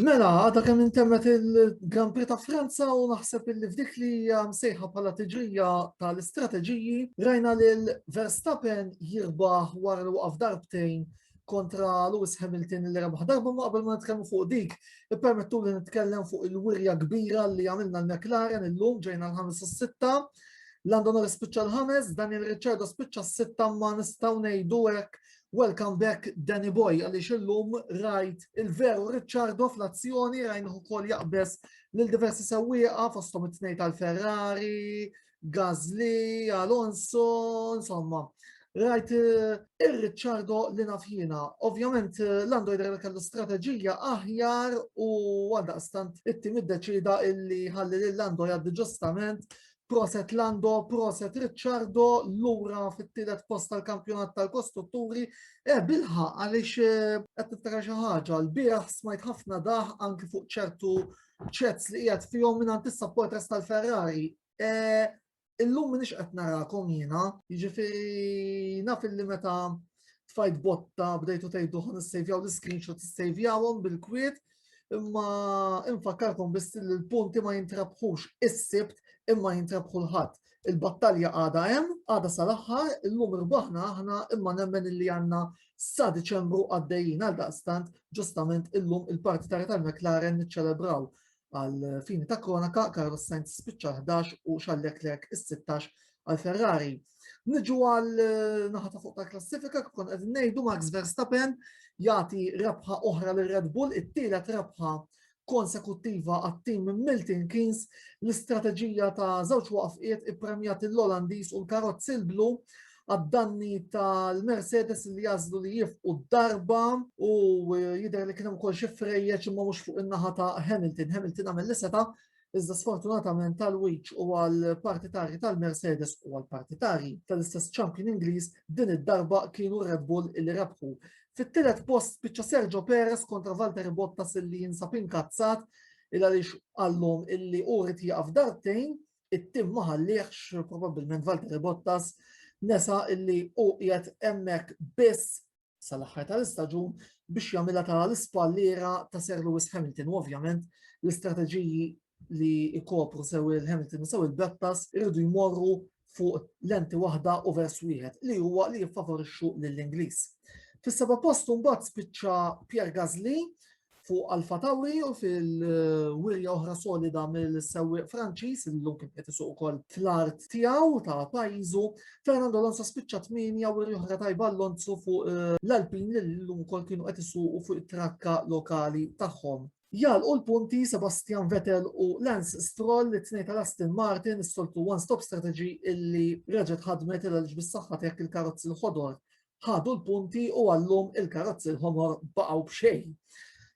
Mela, għadha kemm intemmet il-Grand Prix ta' Franza u naħseb illi f'dik li hija msejħa bħala tiġrija tal-istrateġiji, rajna lil Verstappen jirbaħ wara li waqaf darbtejn kontra Lewis Hamilton li rebaħ darba ma qabel ma nitkellmu fuq dik, ippermettu li nitkellem fuq il-wirja kbira li għamilna l-McLaren illum ġejna l-ħames u s-sitta. Lando Norris spiċċa l-ħames, Daniel Ricciardo spiċċa s-sitta ma nistgħu ngħidu hekk Welcome back Danny Boy għaliex illum rajt il-veru Ricciardo fl-azzjoni rajn ukoll jaqbeż lil diversi sewwieqa fosthom it-tnejn tal-Ferrari, Gazli, Alonso, insomma. Rajt eh, ir-Ricciardo li nafjina. Ovvjament eh, l-Android Rail kellu strateġija aħjar u għaldaqstant it-tim iddeċida illi ħalli l-Android għaddi ġustament Proset Lando, proset Ricciardo, lura fit-tielet post tal-kampjonat tal-kostrutturi, e bilħa għaliex eh, qed niftakar xi ħaġa, l-bieraħ smajt ħafna daħ anki fuq ċertu ċets li qiegħed fihom minn antissa portres tal-Ferrari. E, illum minix qed narakom jiena, jiġifieri naf li meta tfajt botta bdejtu tgħidu ħan issejvjaw l-screenshot issejvjawhom bil-kwiet, Imma infakkarkom biss li l-punti ma jintrabħux is-sibt imma jintrabħu l-ħadd. Il-battalja għada hemm, għada sal-aħħar, illum irbaħna aħna imma nemmen li għandna sa Diċembru għaddejjin għal daqstant ġustament illum il-parti tara tal-McLaren niċċelebraw għal fini ta' kronaka Carlos Sainz spiċċa 11 u Charles Leclerc is-16 għal Ferrari. Niġu għal eh, naħa ta' fuq ta' klassifika kikun qed ngħidu Max Verstappen jagħti rebħa oħra lil Red Bull, it-tielet rebħa konsekuttiva għat-tim Milton Keynes l-istrateġija ta' żewġ waqfiet ippremjat l-Olandis u l-karozzi l-blu għad-danni tal-Mercedes li jazlu li jifqu darba u eh, jider li kienem kol xifrejjeċ imma mux fuq in-naħa ta' Hamilton. Hamilton għamil li seta Iżda sfortunatament għal Wiċ u għal partitarji tal-Mercedes u għal partitarji tal-istess champion Ingliż din id-darba kienu Red Bull il rebħu. Fit-tielet post spiċċa Sergio Perez kontra Valtteri Bottas illi jinsab inkazzat il għaliex għallhom illi u rrit jaqaf dartejn it-tim ma ħalliex probabbilment Valtteri Bottas nesa illi u qiegħed hemmhekk biss sal-aħħar tal-istaġun biex jagħmilha tara l-ispalliera ta' Sir Lewis Hamilton u ovvjament l-istrateġiji li jkopru sew il-Hamilton u sew il-Brattas irridu jmorru fuq lenti waħda u vers wieħed li huwa li jiffavorixxu lill-Ingliż. Fis-seba' post mbagħad spiċċa Pierre Gasly fuq Alfa Tauri u fil-wirja oħra solida mill-sewwieq Franċiż li llum kien qed isuq ukoll fl-art tiegħu ta' pajjiżu. Fernando Alonso spiċċa tmienja wirja oħra tajba Alonso fuq eh, l-Alpin li llum ukoll kienu qed isuqu fuq it-trakka lokali tagħhom. Jal u l-punti Sebastian Vettel u Lance Stroll li t-tnejn tal-Aston Martin s-soltu one-stop strategy illi reġet ħadmet il-ġbis saħħa tek il-karozzi l-ħodor ħadu l-punti u għallum il-karozzi l-ħomor baqgħu b'xejn.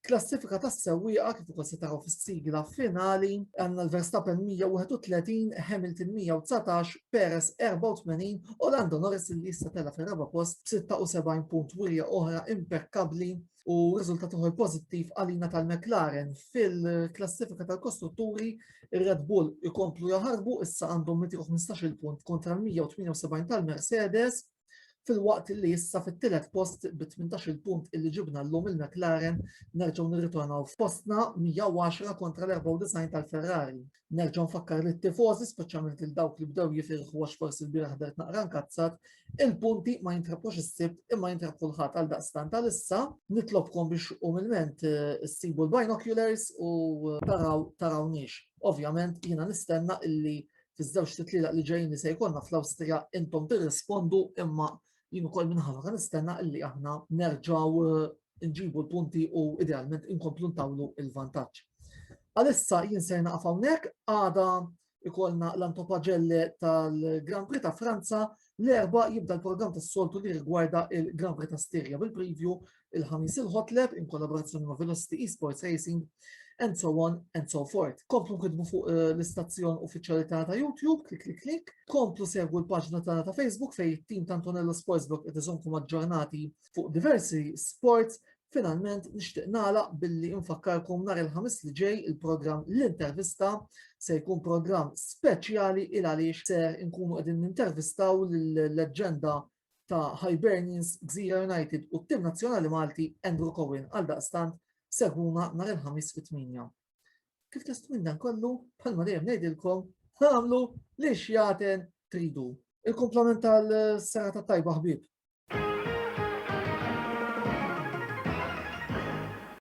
Klassifika tas sewwieqa kif ukoll se taraw fis-sigla finali għandna l-Verstappen 131, Hamilton 119, Perez 84 u Lando Norris li issa tela fir-raba' post 76 punt wirja oħra impekkabbli u riżultat uħor pożittiv għalina tal-McLaren fil-klassifika tal-kostrutturi ir-Red Bull ikomplu jaħarbu issa għandhom 115 punt kontra l-178 tal-Mercedes Filwaqt li issa fit-tielet post bi 18-il punt illi ġibna llum il-McLaren nerġgħu nirritornaw f'postna 110 kontra l-94 tal-Ferrari. Nerġa' nfakkar lit-tifożi speċjalment lil dawk li bdew jifirħu għax forsi lbieraħ ħdert naqra nkazzat, il-punti ma jintrabħux is-Sibt imma jintrab kulħadd għaldaqstant għalissa nitlobkom biex umilment issibu l-binoculars u taraw tarawniex. Ovvjament jiena nistenna illi fiż-żewġ titlielaq li ġejjin li se jkollna fl-Awstrija intom tirrispondu imma jien ukoll minħabba kan nistenna illi aħna nerġgħu eh, nġibu l-punti u idealment inkomplu ntawlu il-vantaġġ. Għalissa jien se naqaf hawnhekk għada ikollna l-antopaġelle tal-Grand Prix ta' Franza l-erba jibda l-programm tas-soltu li rigwarda il-Grand Prix ta' Stirja bil-preview il-Ħamis il-Hotlab in kollaborazzjoni ma' Velocity Esports Racing and so on and so forth. Komplu nkidbu fuq eh, l-istazzjon uffiċjali tagħna ta' YouTube, klik klik klik. Komplu segwu l-paġna tagħna ta' Facebook fejn it-tim ta' Antonello Sportsbook qed iżomkom aġġornati fuq diversi sports Finalment nixtieq nagħlaq billi nfakkarkom nhar il-ħamis li ġej il-programm l-intervista se jkun programm speċjali il għaliex ser inkunu qegħdin nintervistaw l-leġġenda ta' Hibernians, Gżira United u t-tim nazzjonali Malti Andrew Cohen għaldaqstant segħuna nhar il-Ħamis fit-tmienja. Kif test minn dan kollu, bħalma dejjem ngħidilkom, tagħmlu li xjaten tridu. Il-komplement tal-sena ta' tajba ħbib.